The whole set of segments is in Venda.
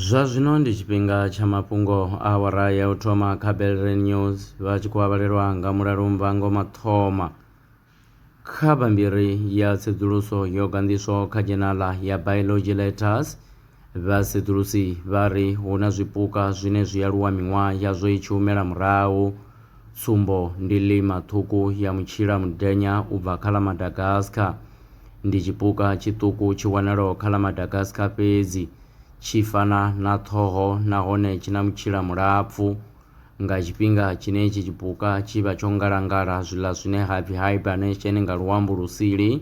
zwa zwino ndi tshifhinga tsha mafhungo a awara ya u thoma kha belre news vha tshi khou avhalelwa nga mulalo mvango mathoma kha bammbiri ya tsedzuluso yo ganḓiswaho kha dzhenala ya biology letters Vhasedzulusi vha ri hu na zwipuka zwine zwi aluwa miṅwaha yazwo i tshi humela murahu. Tsumbo ndi lima ṱhukhu ya mutshila mudenya u bva kha ḽa Madagascar. Ndi tshipuka tshiṱuku tshi wanalaho kha ḽa Madagascar fhedzi. Tshi fana na ṱhoho nahone tshi na mutshila mulapfu. Nga tshifhinga tshine itshi tshipuka tshi vha tsho ngalangala zwiḽa zwine ha pfi hibernation nga luambo lusili,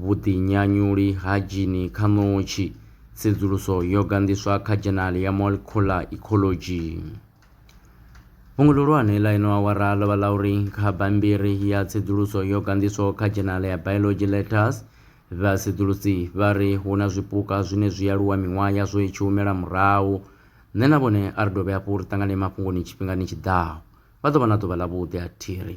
Vhuḓinyanyuli ha dzhini kha ṋotshi, tsedzuluso yo ganḓiswa kha Dzhenali ya Molecular Ecology. Fhungo ḽihulwane ḽa ino awara ḽo vha ḽa uri kha bammbiri ya tsedzuluso yo ganḓiswaho kha Dzhenali ya Biology Letters, vhasedzulusi vha ri hu na zwipuka zwine zwi aluwa miṅwaha yazwo i tshi humela murahu. Nṋe na vhone a ri dovhe hafhu ri ṱangane mafhungoni tshifhingani tshi ḓaho. Vha ḓo vha na ḓuvha ḽavhuḓi a thiri.